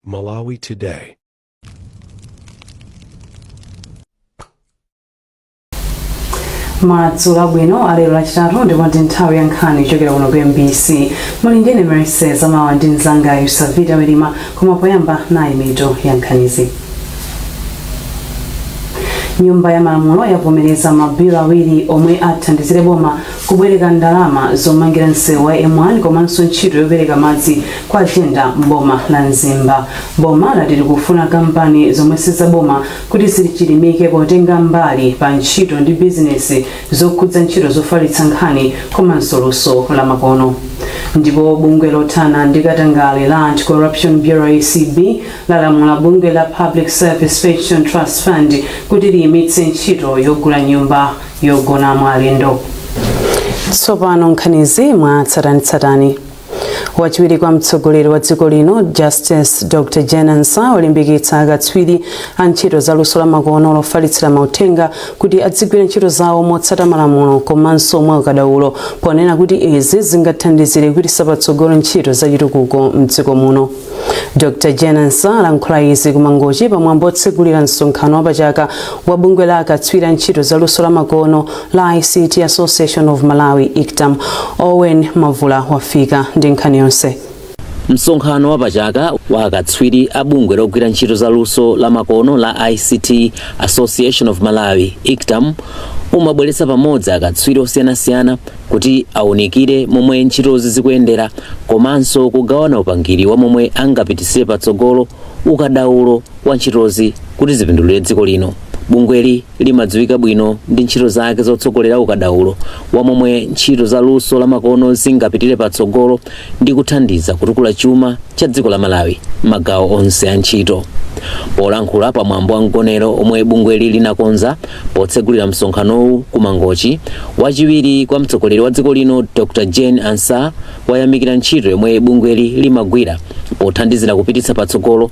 Malawi Today. madzulo abwino alero lachitatu ndipo ndi nthawi ya nkhani kuchokera kuno ku mbc muli ndine merese zamawa ndi mzanga yusavita welima koma poyamba nayi mitu ya nkhanizi nyumba ya malamulo yavomereza mabilo awiri omwe athandizire boma Kubwereka ndalama zomangira msewu wa M1 komanso ntchito yopereka madzi kwa Jenda m'boma la Mzimba. Boma lati likufuna kampani zomwe si zaboma kuti zichilimike potenga mbali pa ntchito ndi bizinesi zokhudza ntchito zofalitsa nkhani komanso luso la makono. Ndipo bungwe lothana ndi katangale la Anti-Corruption Bureau acb lalamula bungwe la Public Service Pension Trust Fund kuti liyimitse ntchito yogula nyumba yogonamo alendo tsopano nkhanizi mwa tsatanitsatani wachiwiri kwa mtsogoleri wa dziko lino justice dr Jane Ansah walimbikitsa akatswiri a ntchito za luso la makono lofalitsira mauthenga kuti adzigwira ntchito zawo motsata malamulo komanso mwa ukadaulo ponena kuti izi zingathandizire kupititsa patsogolo ntchito za chitukuko mdziko muno dr Jane Ansah alankhula izi ku mangochi pamwambo otsegulira msonkhano wapachaka wa bungwe la akatswiri a ntchito za luso la makono la ict association of malawi ictam owen mavula wafika ndi nkhani yonse msonkhano wapachaka wa akatswiri a bungwe logwira ntchito za luso la makono la ict association of malawi ictam umabweretsa pamodzi akatswiri osiyanasiyana kuti aunikire momwe ntchitozi zikuyendera komanso kugawana upangiri wa momwe angapititsire patsogolo ukadaulo wa ntchitozi kuti zipindulire dziko lino. Bungweli limadziwika bwino ndi ntchito zake zotsogolera ukadaulo wa momwe ntchito za luso lamakono zingapitire patsogolo ndi kuthandiza kutukula chuma cha dziko la Malawi m'magawo onse a ntchito. Polankhula pa mwambo wa mgonero omwe bungweli linakonza potsegulira msonkhanowu ku Mangochi, wachiwiri kwa mtsogoleri wa dziko lino Dr Jane Ansah wayamikira ntchito yomwe bungweli limagwira pothandizira kupititsa patsogolo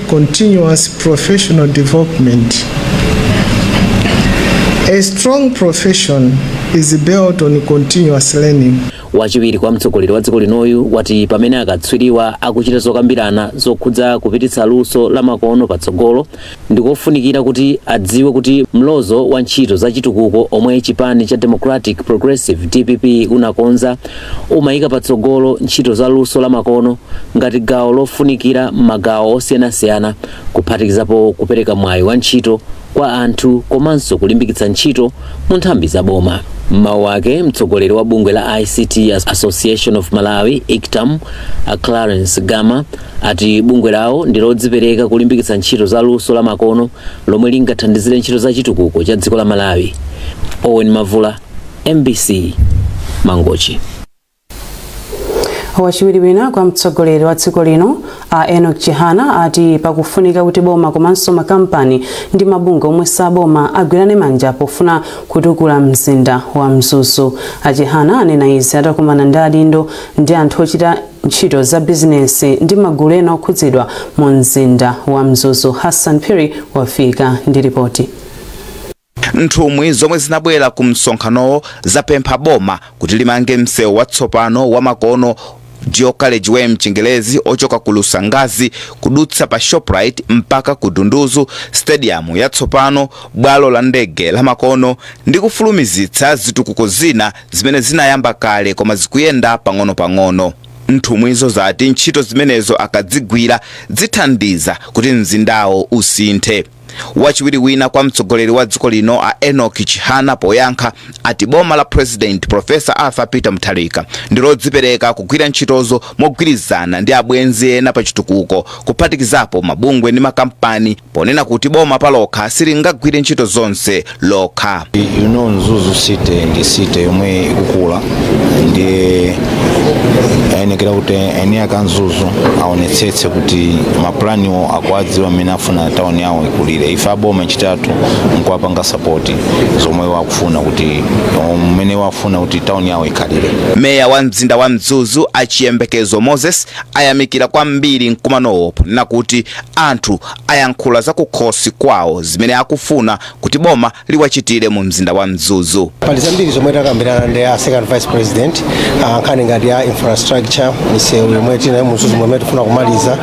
continuous professional development. A strong profession is built on continuous learning. wachiwiri kwa mtsogoleri wa dziko linoyu wati pamene akatswiriwa akuchita zokambirana zokhudza kupititsa luso la makono patsogolo ndikofunikira kuti adziwe kuti mlozo wa ntchito za chitukuko omwe chipani cha democratic progressive dpp chinakonza Umayika patsogolo ntchito za luso la makono ngati gawo lofunikira m'magawo osiyanasiyana kuphatikizapo kupereka mwayi wa ntchito kwa anthu komanso kulimbikitsa ntchito mu nthambi za boma. M'mawu ake, mtsogoleri wa bungwe la ICT Association of Malawi, ICTAM, a Clarence Gama ati bungwe lawo ndi lodzipereka kulimbikitsa ntchito za luso la makono lomwe lingathandizire ntchito za chitukuko cha dziko la Malawi. Owen Mavula, mbc mangochi wachiwiri wina kwa mtsogoleri wa dziko lino a enok chihana ati pakufunika kuti boma komanso makampani ndi mabungwe omwe saboma agwirane manja pofuna kutukula mzinda wa mzuzu a chihana anena izi atakumana ndi adindo ndi anthu ochita ntchito za bizinesi ndi magulu ena okhudzidwa mu mzinda wa mzuzu hassan phiri wafika ndi ripoti Nthumwi zomwe zinabwera ku msonkhanowo zapempha boma kuti limange msewu watsopano wamakono, Dual Carriage Way mchingerezi, ochoka ku Lusangazi kudutsa pa Shoprite mpaka ku Dunduzu, stadium yatsopano, bwalo la ndege lamakono ndi kufulumizitsa zitukuko zina zimene zinayamba kale koma zikuyenda pang'onopang'ono. Nthumwizo zati ntchito zimenezo akadzigwira zithandiza kuti mzindawo usinthe. Wachiwiri wina kwa mtsogoleri wa dziko lino a Enock Chihana poyankha ati boma la President Professor Arthur Peter Mutharika ndi lodzipereka kugwira ntchitozo mogwirizana ndi abwenzi ena pa chitukuko kuphatikizapo mabungwe ndi makampani ponena kuti boma palokha silingagwire ntchito zonse lokha you know mzuzu city ndi city yomwe ikukula ndiye ayenekera kuti eni ake a mzuzu aonetsetse kuti mapulaniwo akuwadziwa mmene afuna tawuni yawo ikulire ife aboma chathu nkuwapanga sapoti zomwe wakufuna kuti mmene wafuna kuti tawuni yawo ikhalire meya wa mzinda wa mzuzu a chiyembekezo moses ayamikira kwambiri mkumanowo ponena kuti anthu ayankhula za kukhosi kwawo zimene akufuna kuti boma liwachitire mu mzinda wa Mzuzu. pali zambiri zomwe takambirana ndi a second vice president ah, nkhani ngati ya infrastructure misewu yomwe tinayo mu Mzuzu momwe tifuna kumaliza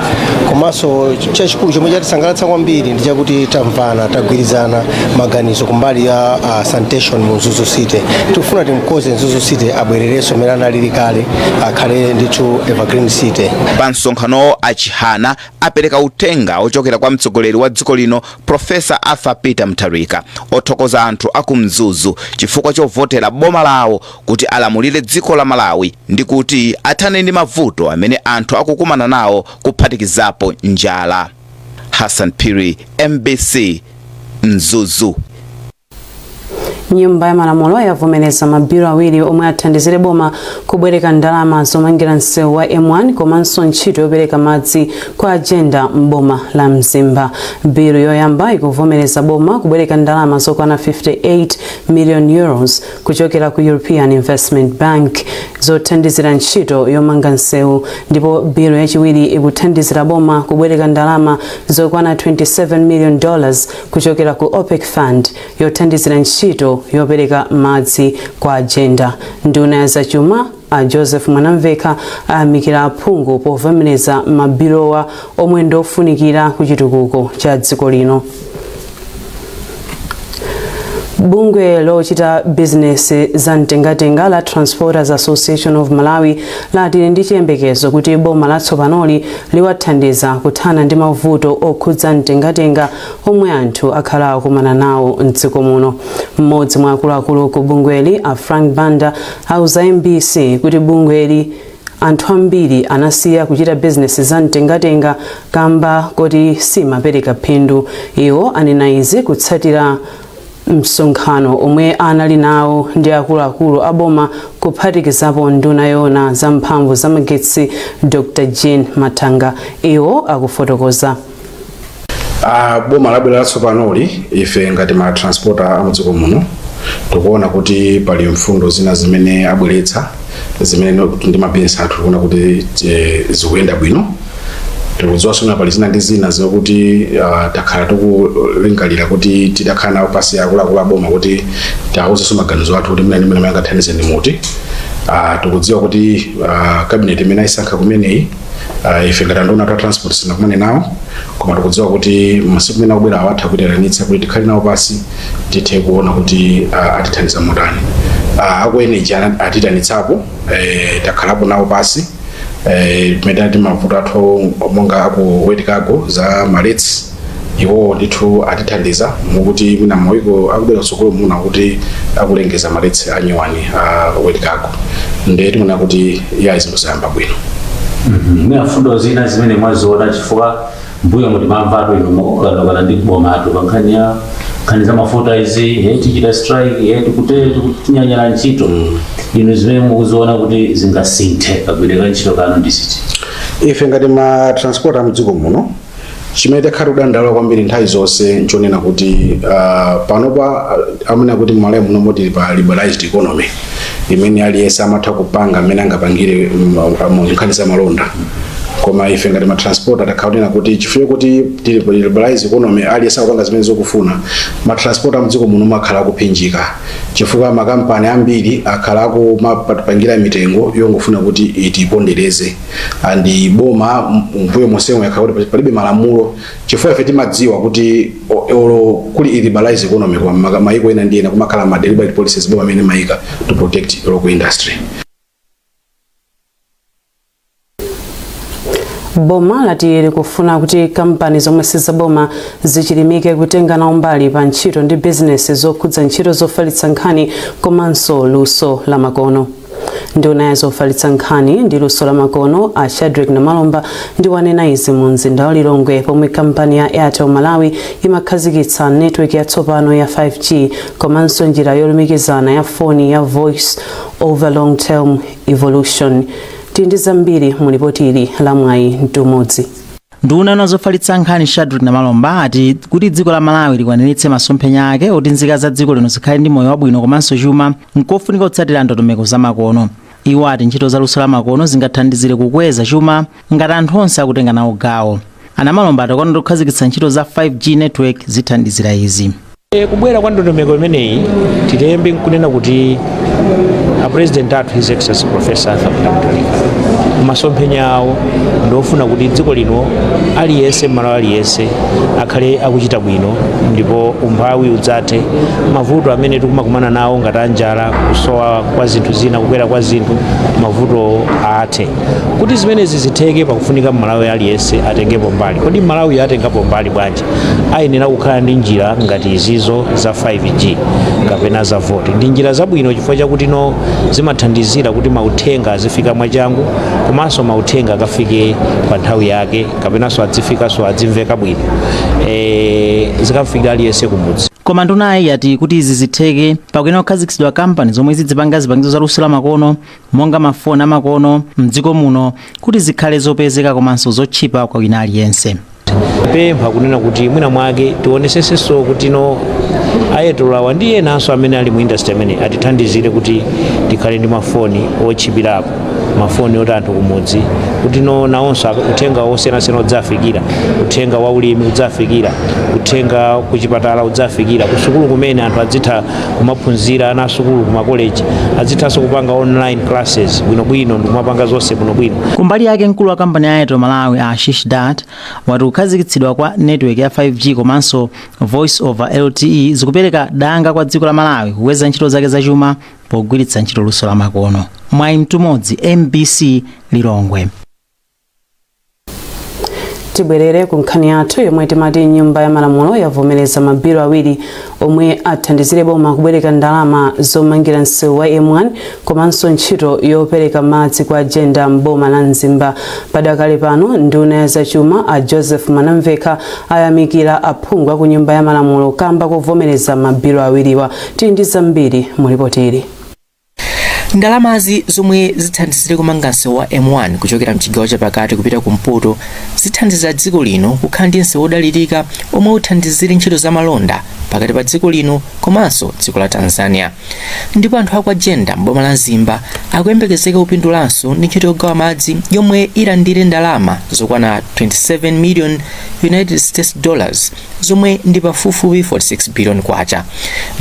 komanso ch- chachikulu chomwe chatisangalatsa kwambiri ndi chakuti tamvana tagwirizana maganizo kumbali ya ah, sanitation mu mzuzu city tikufuna timkonze mzuzu city abwererenso mmene analili kale akhale ndithu evergreen city Pa msonkhanowo a Chihana apereka uthenga ochokera kwa mtsogoleri wa dziko lino Professor Arthur Peter Mutharika othokoza anthu aku Mzuzu chifukwa chovotera boma lawo kuti alamulire dziko la Malawi ndi kuti athane ndi mavuto amene anthu akukumana nawo kuphatikizapo njala. Hassan Phiri, mbc, Mzuzu. nyumba ya malamulo yavomereza mabilu awiri omwe athandizire boma kubwereka ndalama zomangira msewu wa m1 komanso ntchito yopereka madzi kwa jenda m'boma la mzimba bilu yoyamba ikuvomereza boma kubwereka ndalama zokwana 58 million euros kuchokera ku european investment bank zothandizira ntchito yomanga msewu ndipo bilu yachiwiri ikuthandizira boma kubwereka ndalama zokwana 27 million dollars kuchokera ku OPEC Fund yothandizira ntchito yopereka madzi kwa Jenda. Nduna ya zachuma a Joseph Mwanamvekha ayamikira aphungu povomereza mabiluwa omwe ndi ofunikira ku chitukuko cha dziko lino. Bungwe lochita bizinesi za mtengatenga la Transporters Association of Malawi lati ndi chiyembekezo kuti boma latsopanoli liwathandiza kuthana ndi mavuto okhudza mtengatenga omwe anthu akhala akumana nawo mdziko muno. Mmodzi mwa akuluakulu ku bungweli a Frank Banda auza MBC kuti bungweli anthu ambiri anasiya kuchita bizinesi za mtengatenga kamba koti simapereka phindu. Iwo anena izi kutsatira Msonkhano omwe anali nawo ndi akuluakulu a boma kuphatikizapo nduna yoona za mphamvu za magetsi Dr Jean Mathanga. Iwo akufotokoza. a boma labwera latsopanoli ife ngati ma transporter a mdziko muno tikuona kuti pali mfundo zina zimene abweretsa zimene no- ndi mabizinesi athu tikuona kuti eh, zikuyenda bwino tikudziwa zoona pali zina ndi zina zokuti uh, takhala tikulingalira kuti titakhala nawo pasi akuluakulu aboma kuti tiwauzenso maganizo athu kuti mwina mmene angathandize ndi muti uh, tikudziwa kuti uh, kabineti imene ayisankha kumeneyi uh, ife ngati anduna a transport sitinakumane nawo koma tikudziwa kuti masiku amene akubwera awa atha kutiitanitsa kuti tikhale nawo pasi tithe kuona kuti uh, atithandiza motani uh, aku energy atiitanitsapo eh, takhalapo nawo pasi eh, pamene ndi mavuto athu monga aku wet cargo za ma rates iwowo ndithu atithandiza mukuti mwina mawiki akubwera kutsogolo muna kuti akulengeza ma rates anyuwani a wet cargo ndiye tiona kuti ya zinthu zayamba bwino mwina mfundo zina zimene mwaziona chifukwa mbuyomu timamvatu inu mukukanakana ndi bomatu pa nkhani ya nkhani za mafuta izi eh, tichita strike eh, tikute tikunyanyala ntchito inu zimene mukuziona kuti zingasinthe kagwiridwe ka ntchito kanu ndi ziti ife ngati ma transporter amdziko muno chimene takhala kudandaula kwambiri nthawi zonse nchonena kuti uh, panopa uh, amene akuti mmalawi muno moti tili pa liberalized economy imene aliyense amatha kupanga mmene angapangire mm, uh, mu nkhani za malonda koma ife ngati ma transporter takhala tikuona kuti chifukwa kuti tili pa liberalized economy aliyense akupanga zimene akufuna ma transporter amdziko muno akhala akuphinjika chifukwa makampani ambiri akhala akumatipangira mitengo yongofuna kuti itipondereze and boma mbuyo monsemo yakhala kuti palibe malamulo chifukwa ife timadziwa kuti olo kuli liberalized economy kwa mayiko ena ndi ena kumakhala ma deliberate policies boma amene imayika to protect local industry boma lati likufuna kuti kampani zomwe sizaboma zichilimike kutenga nawo mbali pa ntchito ndi bizinesi zokhudza ntchito zofalitsa nkhani komanso luso lamakono nduna ya zofalitsa nkhani ndi luso la makono a shadric namalomba ndiye wanena izi mu mzinda wa lilongwe pomwe kampani ya airtel malawi imakhazikitsa network yatsopano ya 5g komanso njira yolumikizana ya foni ya voice over long term evolution tili ndi zambiri mu lipoti ili la mwayi mtumodzi Nduna ona zofalitsa nkhani Shadric Namalomba ati kuti dziko la Malawi likwaniritse masomphenya ake oti nzika za dziko lino zikhale ndi moyo wabwino komanso chuma nkofunika kutsatira ndondomeko zamakono. Iwo ati ntchito za luso lamakono zingathandizire kukweza chuma ngati anthu onse akutenga nawo gawo. A Namalomba ati kukhazikitsa ntchito za 5G network zithandizira izi. E, kubwera kwa ndondomeko imeneyi tiyambe nkunena kuti a president athu his excellency professor Arthur Peter Mutharika masomphenya awo ndiofuna kuti dziko lino aliyense mmalawi aliyense akhale akuchita bwino ndipo umphawi udzathe mavuto amene tikumakumana nawo ngati anjala kusowa kwa zinthu zina kukwera kwa zinthu mavuto athe kuti zimenezi zitheke pakufunika mmalawi aliyense atengepo mbali kodi mmalawiyo atengapo mbali bwanji ayenera kukhala ndi njira ngati izizo za 5G kapena za VoLTE. Ndi njira zabwino chifukwa chakuti no zimathandizira kuti mauthenga azifika mwachangu komanso mauthenga akafike pa nthawi yake kapenanso adzifikanso adzimveka bwino e, zikamfikire aliyense kumudzi. koma ndunayi yati kuti izi zitheke pakuyenera kukhazikitsidwa kampani zomwe zidzipanga zipangizo za luso la makono monga ma phone amakono mdziko muno kuti zikhale zopezeka komanso zotchipa kwa wina aliyense. pempha kunena kuti mwina mwake tionesesenso kuti no a Airtel awa ndi enanso amene ali mu industry ameneyu atithandizire kuti tikhale ndi mafoni otchipirako mafoni oti anthu kumudzi kuti no nawonso aka- uthenga wosiyanasiyana udzafikira uthenga wa ulimi udzafikira uthenga kuchipatala udzafikira kusukulu kumene anthu adzitha kumaphunzira ana asukulu kumakoleji azithanso kupanga online classes bwinobwino ndikumapanga zonse bwinobwino kumbali yake mkulu wa kampani ya airtel malawi a ashish dutt wati kukhazikitsidwa kwa network ya 5g komanso voice over lte zikupereka danga kwa dziko la malawi kukweza ntchito zake zachuma pogwiritsa ntchito luso la makono mwai mtumodzi mbc lilongwe tibwerere ku nkhani yathu yomwe timati nyumba ya malamulo yavomereza mabilo awiri omwe athandizire boma kubwereka ndalama zomangira msewu wa m1 komanso ntchito yopereka madzi kwa jenda m'boma la mzimba padakali pano nduna ya zachuma a joseph mwanamvekha ayamikira aphungu aku nyumba ya malamulo kamba kovomereza mabilo awiriwa tili ndi zambiri mu lipoti ili Ndalamazi zomwe zithandizire kumanga msewu wa M1 kuchokera mchigawo chapakati kupita kumpoto zithandiza dziko lino kukhala ndi msewu wodalirika omwe uthandizire ntchito za malonda pakati pa dziko lino komanso dziko la Tanzania. Ndipo anthu akwa Jenda m'boma la Mzimba akuyembekezeka kupindulanso ndi ntchito yogawa madzi yomwe ilandire ndalama zokwana 27 million United States dollars zomwe ndi pafupifupi 46 billion kwacha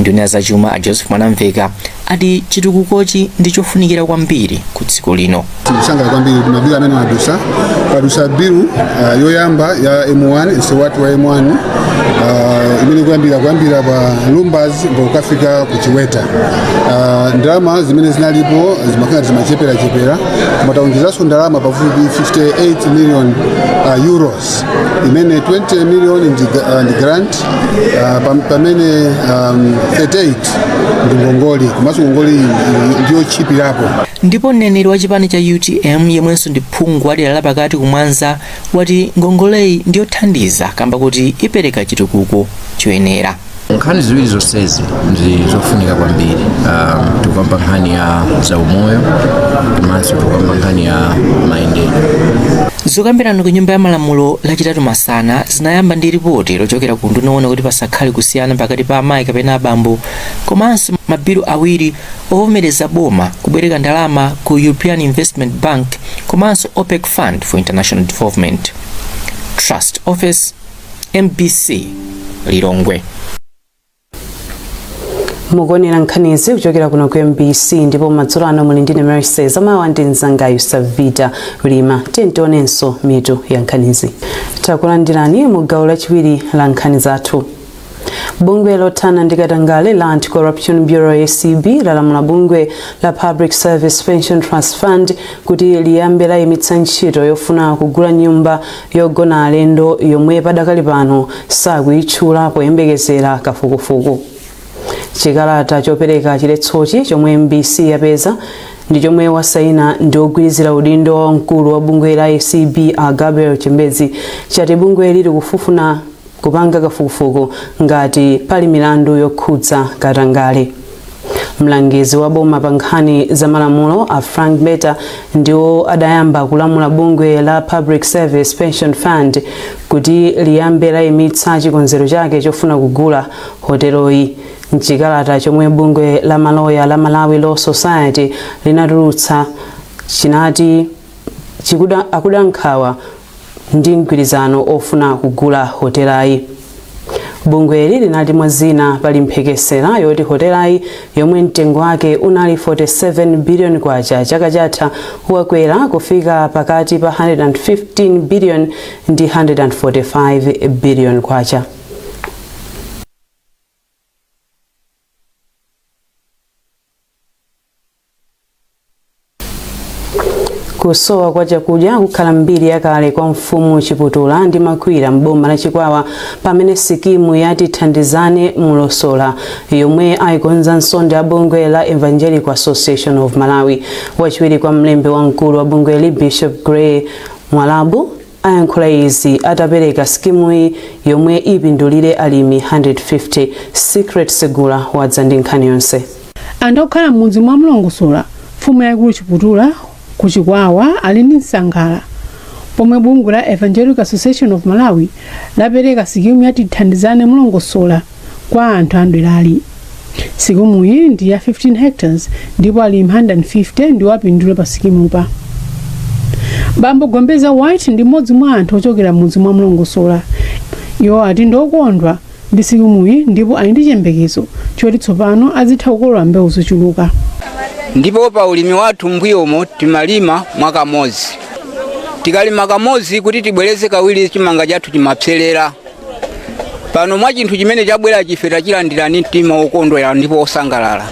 nduna ya zachuma a joseph mwanamvekha ati chitukukochi ndi chofunikira kwambiri ku dziko lino tikusangala kwambiri kuti mabilu amene adutsa padutsa bilu uh, yoyamba ya m1 msewu wa m1 uh, imene kuyambira kuyambira pa lumbadzi mpaka kukafika ku chiweta uh, ndalama zimene zinalipo zimakhala zimacheperachepera koma taonjezanso ndalama pafupi 58 million uh, euros imene 20 million ndi, uh, ndi grant uh, pam- pamene um, 38 ndi ngongole komanso ngongole iyi ndi yotchipirapo ndipo mneneri wa chipani cha utm yemwenso ndi phungu wa dera lapakati ku mwanza wati ngongoleyi ndiyothandiza kamba kuti ipereka chitukuko choyenera nkhani ziwiri zonsezi ndi zofunika kwambiri um, tikukamba nkhani ya zaumoyo komanso tikukamba nkhani ya mayendedwe zokambirana ku nyumba ya malamulo lachitatu masana zinayamba ndi ripoti lochokera ku nduna yoona kuti pasakhale kusiyana pakati pa amayi kapena abambo komanso mabilu awiri ovomereza boma kubwereka ndalama ku european investment bank komanso opec fund for international development trust ofesi mbc lilongwe mukuonera nkhanizi kuchokera kuno ku mbc ndipo madzulo ano muli ndine mercy zamawa ndi mzangayu savita lima tiyeni tionenso mitu ya nkhanizi takulandirani mu gawo lachiwiri la nkhani zathu bungwe lothana ndi katangale la anti-corruption bureau acb lalamula bungwe la public service pension trust fund kuti liyambe layimitsa ntchito yofuna kugula nyumba yogona alendo yomwe padakali pano sakuyitchula poyembekezera kafukufuku chikalata chopereka chiletsochi chomwe mbc yapeza ndi chomwe wasaina ndi ogwirizira udindo wa mkulu wa bungwe la acb a gabriel chembezi chati bungweli likufufuna kupanga kafukufuku ngati pali milandu yokhudza katangale. Mlangizi wa boma pa nkhani za malamulo a Frank Mbeta ndiwo adayamba kulamula bungwe la Public Service Pension Fund kuti liyambe layimitsa chikonzero chake chofuna kugula hoteloyi. Mchikalata chomwe bungwe la maloya la Malawi Law Society linatulutsa chinati akuda nkhawa ndi mgwirizano ofuna kugula hotelayi. Bungweli linati mwa zina pali mphekesera yoti hotelayi yomwe mtengo wake unali 47 billion kwacha chaka chatha wakwera kufika pakati pa 115 billion ndi 145 billion kwacha. kusowa kwa chakudya kukhala mbiri yakale kwa mfumu chiputula ndi makhwira m'boma la chikwawa pamene sikimu ya tithandizane mlongosola yomwe ayikonzanso ndi a bungwe la evangelical association of malawi wachiwiri kwa mlembi wamkulu wa bungweli bishop gray mwalabu ayankhula izi atapereka sikimuyi yomwe ipindulire alimi 150. Secret Segula wadza ndi nkhani yonse. Anthu okhala m'mudzi mwa Mlongosola, mfumu yaikulu Chiputula ku Chikwawa ali ndi msangala pomwe bungwe la Evangelical Association of Malawi lapereka sikimu ya Tithandizane Mlongosola kwa anthu a mderali. Sikimuyi ndi ya 15 hectares ndipo alimi 150 ndiwo apindule pa sikimupa. Bambo Gombeza White ndi mmodzi mwa anthu ochokera m'mudzi mwa Mlongosola. Iwo ati ndi okondwa ndi sikimuyi ndipo ali ndi chiyembekezo choti tsopano azitha kukolola mbewu zochuluka. ndipo pa ulimi wathu mbuyomo timalima mwakamozi tikalima kamozi kuti tibwereze kawiri chimanga chathu chimapserera pano mwa chinthu chimene chabwerachi ife tachilandira ndi mtima wokondwera ndipo wosangalala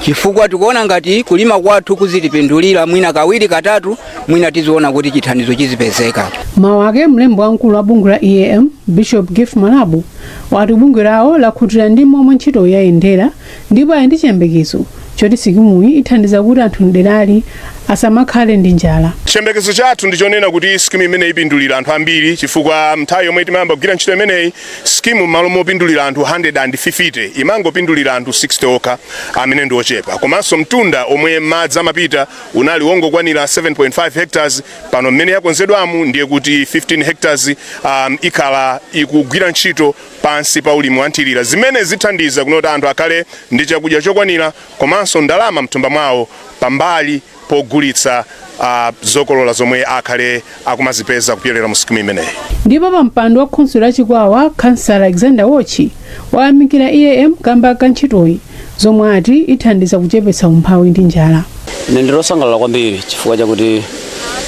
chifukwa tikuona ngati kulima kwathu kuzitipindulira mwina kawiri katatu mwina tiziona kuti chithandizo chizipezeka m'mawu ake mlembi wamkulu wa bungwe la eam bishop gift mwalabu wati bungwe lawo lakhutira ndi momwe ntchito yayendera ndipo ali ndi chiyembekezo choti sikimuyi ithandiza kuti anthu mderali asamakhale ndi njala chiyembekezo chathu ndi chonena kuti skimu imeneyi ipindulira anthu ambiri chifukwa nthawi yomwe timayamba kugwira ntchito imeneyi skimu m'malo mopindulira anthu 150 imangopindulira anthu 60 okha amene ndi ochepa komanso mtunda omwe madzi amapita unali wongokwanira 7.5 hectares pano mmene yakonzedwamu ndiye kuti 15 hectares um, ikhala ikugwira ntchito pansi pa ulimi wanthirira zimene zithandiza kunena kuti anthu akhale ndi chakudya chokwanira komanso ndalama mthumba mwawo pambali pogulitsa uh, zokolola zomwe akhale akumazipeza kupyolera mu sikimu imeneyi ndipo wapampando wa khonsolo ya chikwawa khansala alexander wotchi wayamikira eam kamba ka ntchitoyi zomwe ati ithandiza kuchepetsa umphawi ndi njala ine ndili osangalala kwambiri chifukwa chakuti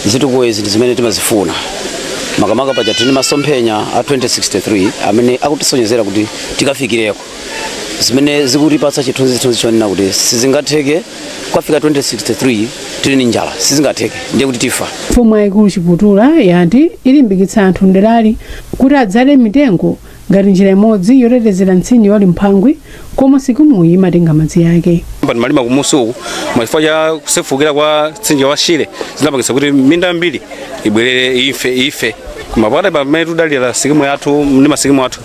zitukuko izi ndi zimene timazifuna makamaka paja tili ndi masomphenya a 2063 amene akutisonyezera kuti tikafikireko zimene zikutipatsa chithunzithunzi chonena kuti sizingatheke kukafika 2063 tili ndi njala sizingatheke ndiye kuti tifa mfumu yayikulu chiputula yati ilimbikitsa anthu mderali kuti adzale mitengo Ngati njira imodzi yotetezera mtsinje wa Limphangwi komwe sikimuyi imatenga madzi ake. Kumalima kumusi uku chifukwa cha kusefukira kwa mtsinje wa Shire zinapangitsa kuti minda yambiri ibwerere ife koma pakati pamene tikudalira sikimu yathu ndi masikimu athu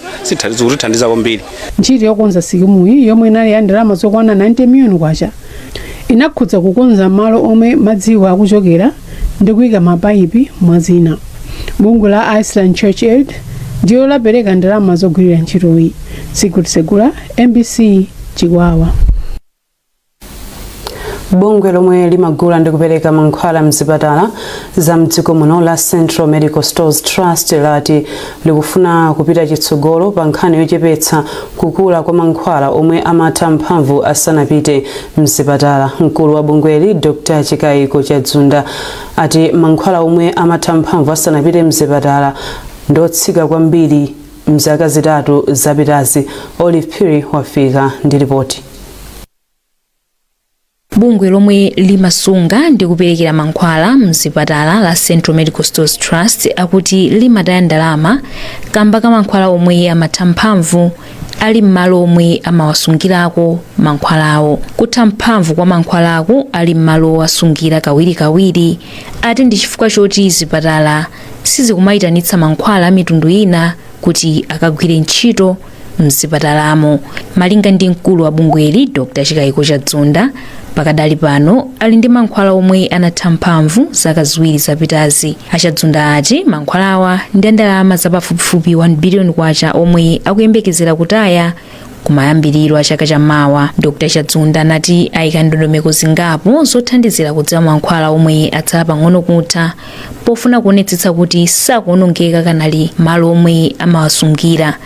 zikutithandiza kwambiri. Ntchito yokonza sikimuyi yomwe inali ya ndalama zokwana 90 miliyoni kwacha inakhudza kukonza malo omwe madziwo akuchokera ndi kuika mapaipi mwa zina bungwe la iceland church aid ndilo lapereka ndalama zogwirira ntchitoyi secret segula mbc chikwawa bungwe lomwe limagula ndi kupereka mankhwala mzipatala za mdziko muno la central medical stores trust lati likufuna kupita chitsogolo pa nkhani yochepetsa kukula kwa mankhwala omwe amatha mphamvu asanapite mzipatala. Mkulu wa bungweli Dr Chikaiko Chadzunda ati mankhwala omwe amatha mphamvu asanapite mzipatala ndi otsika kwambiri mzaka zitatu zapitazi. Olive Phiri wafika ndi lipoti. Bungwe lomwe limasunga ndi kuperekera mankhwala mzipatala la Central Medical Stores Trust akuti limataya ndalama kamba ka mankhwala omwe amatha mphamvu ali m'malo omwe amawasungirako mankhwalawo. Kutha mphamvu kwa mankhwalaku ali m'malo owasungira kawirikawiri ati ndi chifukwa choti zipatala sizikumayitanitsa mankhwala a mitundu ina kuti akagwire ntchito mzipatalamo malinga ndi mkulu wa bungweli dr chikaiko chadzunda pakadali pano ali ndi mankhwala omwe anatha mphamvu zaka ziwiri zapitazi achadzunda ati mankhwalawa ndi andalama zapafupifupi 1 biliyoni kwacha omwe akuyembekezera kutaya kumayambiriro a chaka chamawa dr chadzunda anati ayika ndondomeko zingapo zothandizira kudziwa mankhwala omwe atsala pang'ono kutha pofuna kuonetsetsa kuti sakuonongeka akanali malo omwe amawasungira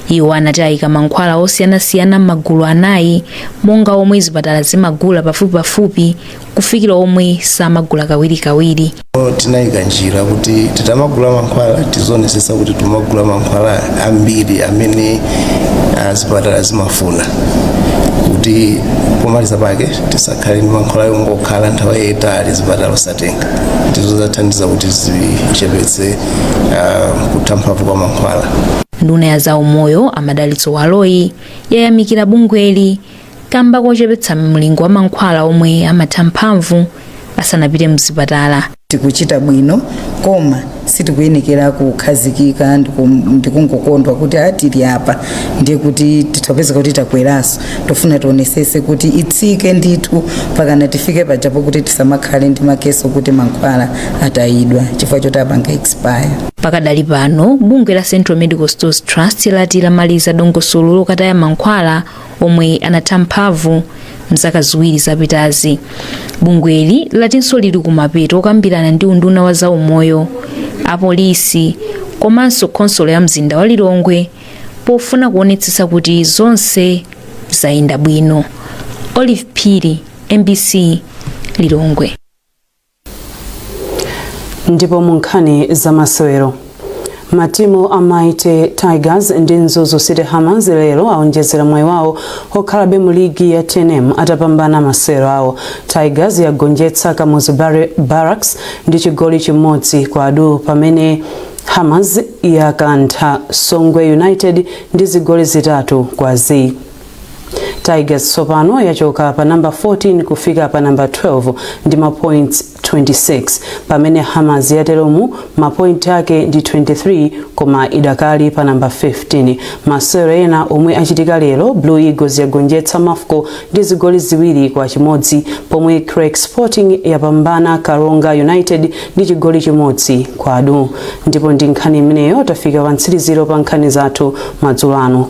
iwo anati ayika mankhwala osiyanasiyana m'magulu anayi monga omwe zipatala zimagula pafupipafupi kufikira omwe samagula kawirikawiri tinayika njira kuti tikamagula mankhwala tizionesesa kuti tumagula mankhwala ambiri amene ah, zipatala zimafuna kuti pomaliza pake tisakhale ndi mankhwala yongokhala nthawi yayitali zipatala tenga ndizo zathandiza kuti zichepetse uh, kutha mphamvu kwa mankhwala nduna ya zaumoyo a madalitso baloyi yayamikira bungweli kamba kochepetsa mlingo wa mankhwala omwe amatha mphamvu asanapite mzipatala tikuchita bwino koma sitikuyenekera kukhazikika ndiku- ndikungokondwa kuti atili apa ndiye kuti tithapeza kuti takweraso tofuna tionesese kuti itsike ndithu pakana tifike pajapo kuti tisamakhale ndi makeso kuti mankhwala atayidwa chifukwa choti apanga expire pakadali pano bungwe la central medical stores trust lati lamaliza dongosolo lokataya mankhwala omwe anatha mphamvu mzaka ziwiri zapitazi bungweli latinso lili kumapeto okambirana ndi unduna wa zaumoyo apolisi komanso khonsolo ya mzinda wa lilongwe pofuna kuonetsetsa kuti zonse zayenda bwino olive phiri mbc lilongwe ndipo mu nkhani za masewero matimu a mighty tigers ndi mzuzu city hammers lero aonjezera mwayi wawo okhalabe mu ligi ya tnm atapambana masewero awo tigers yagonjetsa kamuzu barracks ndi chigoli chimodzi kwa du pamene hammers yakantha songwe united ndi zigoli zitatu kwa zii tigers tsopano yachoka pa nambala 14 kufika pa nambala 12 ndi mapoints 26 pamene hammers yateromu mapointi ake ndi 23 koma idakali pa nambala 15 masewero ena omwe achitika lero blue eagles yagonjetsa mafco ndi zigoli ziwiri kwa chimodzi pomwe creck sporting yapambana karonga united ndi chigoli chimodzi kwa du ndipo ndi nkhani imeneyo tafika pa mtsiliziro pa nkhani zathu madzulo ano